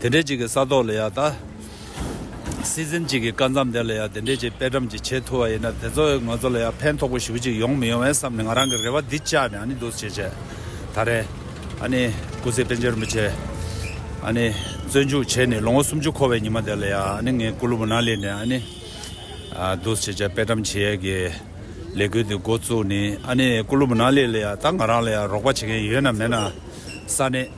དེ་འདྲའི་གཅིག་གི་ས་ཐོག་ལ་ཡང་ད། སྲིད་འཛིན་གཅིག་གི་སྐར་མཚམས་དེ་ལ་ཡང་དེ་འདྲའི་གཅིག་དཔེ་བྲམ་གྱིས་བྱེད་ཐུབ་པ་ཡིན་ན་དེ་ཚོ་ང་ཚོ་ལ་ཡང་ཕན་ཐོགས་པོ་ཞིག་གཅིག་ཡོང་མི་ཡོང་བའི་བསམ་ནས་ང་རང་གི་རེ་བ་འདི་བཅག་ནས་ཨ་ནི་འདུག་བྱས་བྱས། ད་རེ། ཨ་ནི་སྐུ་ཚེ་དཔལ་འབྱོར་མི་ཆེ། ཨ་ནི། བཙོན་འཇུག་བྱས་ནས་ལོ་ངོ་སུམ་ཅུ་འཁོར་བའི་ཉི་མ་དེ་ལ་ཡང་ཨ་ནི་ངའི་སྐུ་ལུས་མུན་ནག་ལས་འདས་ཨ་ནི། འདུག་བྱས་བྱས་དཔེ་བྲམ་གྱིས་ཡས་ཀྱི་ལས་འགུལ་འདི་འགོ་བཙུགས་ནས་ཨ་ནི་སྐུ་ལུས་མུན་ནག་ལས་ལ་ཡང་ད་ང་རང་ལ་ཡང་རོགས་པ་བྱེད་མཁན་ཡོད་ན་མེད་ན་ས་ནས།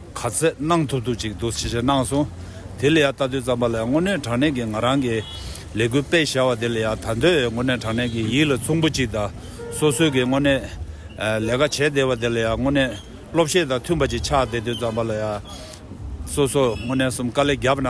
ག་ཚད་གནང་ཐུབ་ཐུབ་ཅིག་འདུག་ཞེས་བཤད་གནང་སོང། དེ་ལ་ཡང་ལྟ་འདོད་ཙམ་པ་ལ་ཡང་དངོས་གནས་དྲང་གནས་ཀྱི་ང་རང་གི་ལས་འགུལ་སྤེལ་བཞག་པ་དེ་ལ་ཡང་ད་འདོད་ཡོད་དངོས་གནས་དྲང་གནས་ཀྱི་ཡིད་ལ་མཚུངས་པོ་ཅིག་དང་སོ་སོས་ཀྱི་དངོས་གནས་ལས་ཀ་བྱས་བསྡད་པ་དེ་ལ་ཡང་དངོས་གནས་སློབ་བཤད་དང་མཐུན་པ་ཅིག་ཆགས་བསྡད་འདོད་ཙམ་པ་ལ་ཡང། སོ་སོ་དངོས་གནས་གསུམ་དཀའ་ལས་བརྒྱབ་ན།